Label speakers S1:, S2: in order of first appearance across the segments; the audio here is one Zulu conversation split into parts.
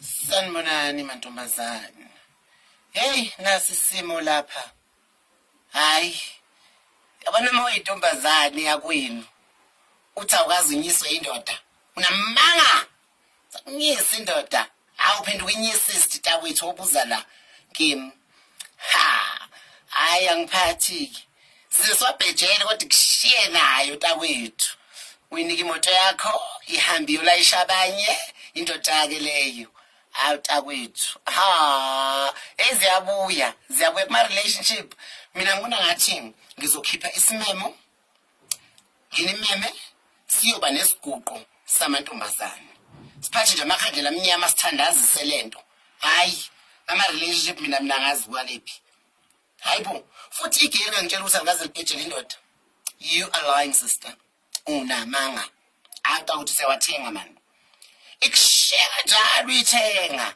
S1: Sanibonani mantombazane. Hey nasi simo lapha. Hayi. Yabona uma uyintombazane yakwenu. Uthi awukazi unyiswe indoda. Unamanga. Unyisa indoda. Awuphenduka inyisist takwethu obuza la. Kim. ha hayi angiphathiki sizobhejele kodwa kushiye nayo takwethu uyinika imoto yakho ihambe iyolayisha abanye indoda-ke leyo hawu takwethu ha eziyabuya ziyabuya kuma-relationship mina ngibona ngathi ngizokhipha isimemo nginimeme siyoba nesiguqo samantombazane siphathe nje amakhandlela amnyama sithandazise le nto hhayi ama-relationship mina mina ngazi kwalephi hhayi bo futhi igeri ngangitshela ukuthi angikaze libhejele indoda you are lying sister unamanga anta ukuthi sewathenga mani ikushiya kanjalo uyithenga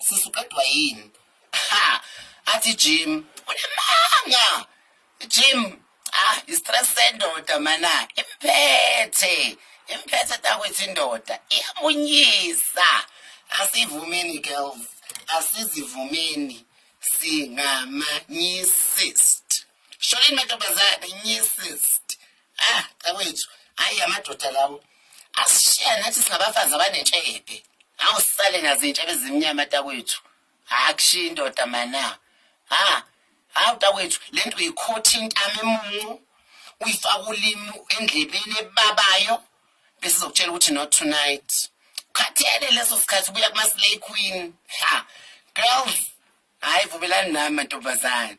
S1: sisi uqedwa yini ha athi Jim unamanga Jim ah istress sendoda mana imphethe imphethe takwethu indoda iyamunyisa asivumeni girls asizivumeni singamanyisist sholini mantombazane nyisist ah cawethu hayi amadoda lawo asishiya nathi singabafazi abanentshebe awu sisale nazintshebe ezimnyama takwethu akushiya indoda mana ha hawu takwethu le nto uyikhotha intama emuncu uyifaka ulimi endlebeni ebabayo bese izokutshela ukuthi not tonight khathele leso sikhathi ubuya kuma-slay queen ha girls hhayi vumelani nami mantombazane